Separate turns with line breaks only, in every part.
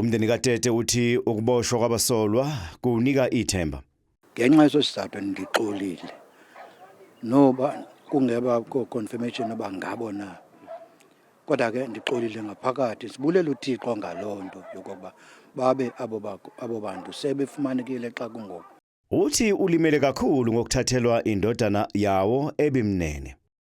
Umndeni
kaTete uthi ukuboshwa kwabasolwa kuwunika ithemba. Ngenxa yeso
sizathu ngixolile noba kungeba ko-confirmation uba ngabo na kodwa ke ndixolile ngaphakathi sibulela uthixo ngaloo nto yokokuba babe abo bantu sebefumanekile xa kungoku uthi ulimele
kakhulu ngokuthathelwa indodana yawo ebimnene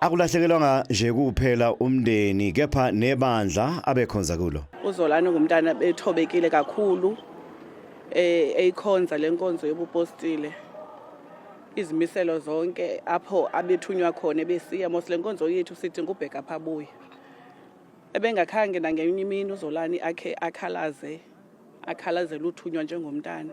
Akulahlekelwanga
nje kuphela umndeni kepha nebandla abekhonza kulo. UZolani ngumntana
ethobekile kakhulu eh eyikhonza lenkonzo yobupostile. Izimiselo zonke apho abethunywa khona besiya mos lenkonzo yethu sidinga ubheka phabuya. Ebengakhange nangenye imini uZolani akhe akhalaze akhalazela uthunywa njengomntana.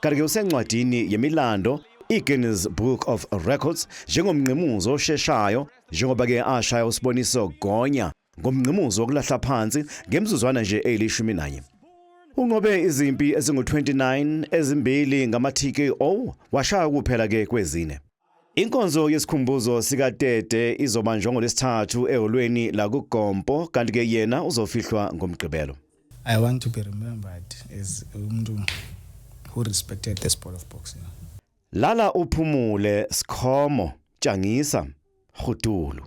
Kanti-ke usencwadini yemilando i-Guinness Book of Records njengomngqimuzi osheshayo njengoba-ke ashaya usiboniso Gonya ngomngqimuzi wokulahla phansi ngemizuzwana nje eyilishumi nanye. Unqobe izimpi ezingu-29 ezimbili ngama-TKO washaya kuphela-ke kwezine. Inkonzo yesikhumbuzo sikaTete izobanjwa ngoLwesithathu eholweni lakuGompo kanti ke yena uzofihlwa ngoMgqibelo. I want to be
remembered as umuntu who respected the sport of boxing. Lala
uphumule Skhomo, tshangisa, Rhudulu.